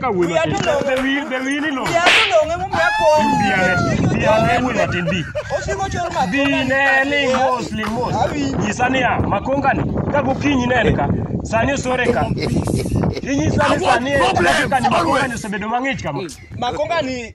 Ka wuoyi Wiya matin. to long'o. Be wi- be wini lo. Wiya to long'e momiyo akong'. Biane. Biane wuoyi matin bi. Osiko chor makoka. Bine ni mos li mos. Awinji. Nyisa niya, makongani ka gokinyi ne en ka. Sani osore ka. Inyisa ni sani en ka ni makongani osebedo mang'ich kama. Makoka ni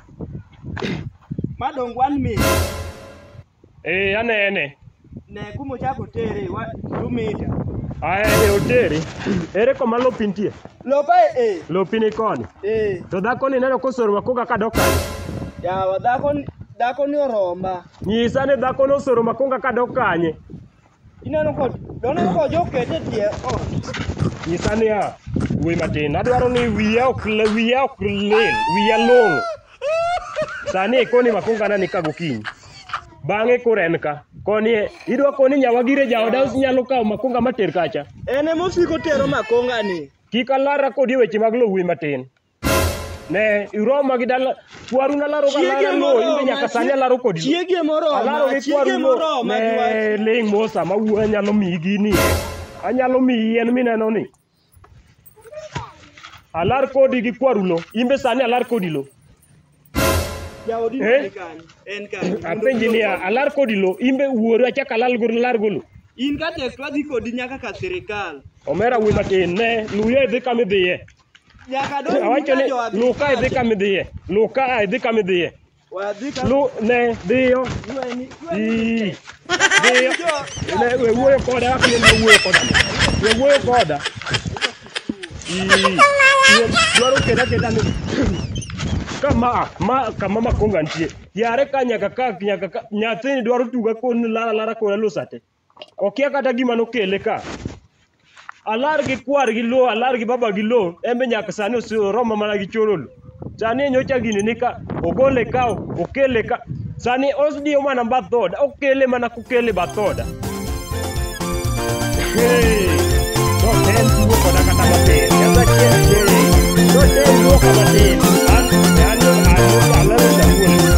Madong one minute. Eh, anene. Ne kuma ochako tere wa two meter. Aya e oteri. Ere koma lopi nitie? Lopa eh. Lopi ni koni. Eh. To dhako ni neno kosoroma koga ka dok kanye? Yawa dhako ni- dhako ni oroma. Nyisa ni dhako ni osoroma koga ka dok kanye? Ineno ko doneno ko jo kete tie ot. Nyisa niya, wuoyi matin, adwaro ni wiya ok le- wiya ok lil, wiya long'o. Sani ikoni makongana ni ka gokinyi. Bang'e koro en ka. Koni e- idwa koni nyawa gire jaoda onyalo kawo makonga mater kacha. En ema osiko tero makonga ni. Kik alara kodi e weche mag lo wuoyi matin. Ne iroma gi dala kwaru na laro Chiege galana no moro imbe ma nyaka sani chi- alaro kodi. chiege moro ma- Alaro gi chiege kwaru moro no. ma Ne ling mosa ma wuo anyalo miyi gini. Anyalo miyi yien mineno ni. Alar kodi gi kwaru lo. Imbe sani alar kodi lo. Jaodi Eh? ni kanye? En kanye? Apenji niya alar kodi lo. Imbe wuoru achak alal golo lar golo. In ka tek twadhi kodi nyaka ka sirikal. Omera wuoyi matin ne luye dhi kama idhiye. Nyaka donj Awacho ni muna jo luka idhi kama idhiye. Luka a idhi kama idhiye. Wadhi ka Lu ne dhiyo. Weni- Ii. Dhiyo. Ne we wuoyo koda kaka ne wuoyo koda. We wuoyo koda. Ii. We dwaro keda keda ni. Kama a, ma kama makonga nitie. Yare ka nyaka ka nyaka ka nyathini dwaro tuga koni lara lara koni lusate. okia kata gima nokele ka alar gi kwar gi lo alar gi baba gi lo embe nyaka sani oromo mana gi chololo sani nyocha gini ni ka ogole ka okele ka sani osdiyo mana bathoda okele mana kokele bathoda hey, noten tuo koda kata matin kata chiel noten tuo koda matin an an an alalo jamuol